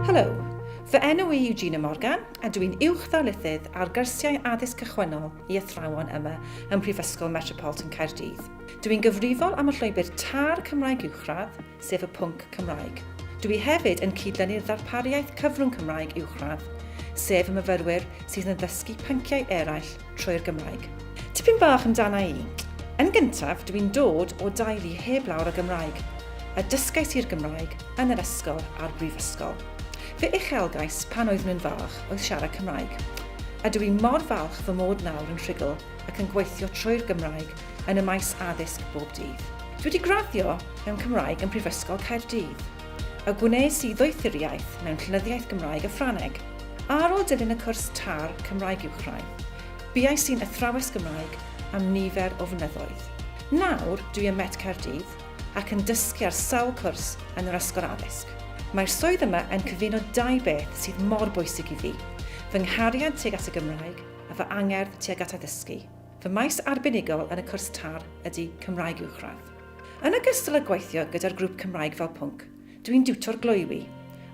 Helo, fy enw i yw Gina Morgan a dw i'n Uwch-ddarlithydd ar Gyrsiau Addysg Cychwynnol i Athrawon yma ym Mhrifysgol Metropolitan Caerdydd. Dw i'n gyfrifol am y llwybr TAR Cymraeg Uwchradd, sef y pwnc Cymraeg. Dw i hefyd yn cyd-dynnu'r ddarpariaeth cyfrwng Cymraeg Uwchradd, sef y myfyrwyr sydd yn ddysgu pynciau eraill trwy'r Gymraeg. Tipyn bach amdana i. Yn gyntaf, dw i'n dod o deulu heb lawr o Gymraeg, a dysgais i'r Gymraeg yn yr ysgol a'r brifysgol. Fy uchelgais pan oeddwn yn fach oedd siarad Cymraeg, a dw i mor falch fy mod nawr yn rhugl ac yn gweithio trwy'r Gymraeg yn y maes addysg bob dydd. Dw i wedi graddio mewn Cymraeg yn Prifysgol Caerdydd. y gwnes i ddoethuriaeth mewn Llenyddiaeth Gymraeg a Ffrangeg. Ar ôl dilyn y cwrs tar Cymraeg Uwchrain, buais i'n athrawes Gymraeg am nifer o flynyddoedd. Nawr, dwi ym Met Caerdydd ac yn dysgu ar sawl cwrs yn yr Ysgol Addysg. Mae'r swydd yma yn cyfuno dau beth sydd mor bwysig i fi, fy nghariad tuag at y Gymraeg a fy angerdd tuag at addysgu. Fy maes arbenigol yn y cwrs TAR ydy Cymraeg Uwchradd. Yn ogystal â gweithio gyda'r grŵp Cymraeg fel pwnc, dw i'n diwtor gloywi,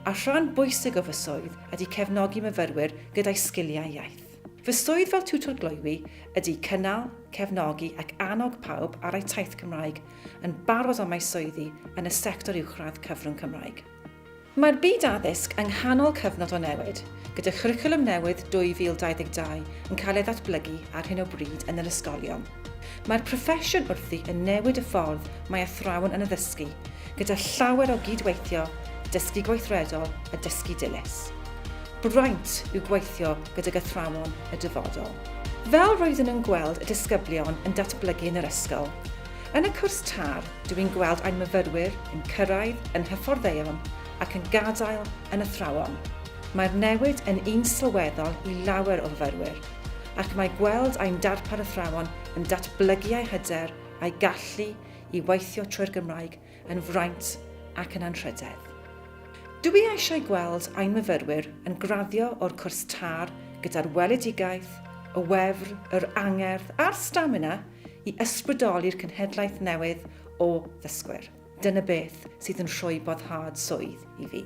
a rhan bwysig o fy swydd ydy cefnogi myfyrwyr gyda'u sgiliau iaith. Fy swydd fel tiwtor gloywi ydy cynnal, cefnogi ac annog pawb ar eu taith Cymraeg yn barod am eu swyddi yn y sector uwchradd cyfrwng Cymraeg. Mae'r byd addysg yng nghanol cyfnod o newid, gyda Chwricwlwm Newydd 2022 yn cael ei ddatblygu ar hyn o bryd yn yr ysgolion. Mae'r proffesiwn wrthi yn newid y ffordd mae athrawon yn addysgu, gyda llawer o gyd-weithio, dysgu gweithredol a dysgu dilys. Braint yw gweithio gydag athrawon y dyfodol. Fel roeddwn yn gweld y disgyblion yn datblygu yn yr ysgol, yn y cwrs tar, Dw i'n gweld ein myfyrwyr yn cyrraedd yn hyfforddeion ac yn gadael yn athrawon. Mae'r newid yn un sylweddol i lawer o fyfyrwyr, ac mae gweld ein darpar athrawon yn datblygu eu hyder a'u gallu i weithio trwy'r Gymraeg yn fraint ac yn anrhydedd. Dw i eisiau gweld ein myfyrwyr yn graddio o'r cwrs târ gyda'r weledigaeth, y wefr, yr angerdd a'r stamina i ysbrydoli'r cenhedlaeth newydd o ddysgwyr. Dyna beth sydd yn rhoi boddhad swydd i fi.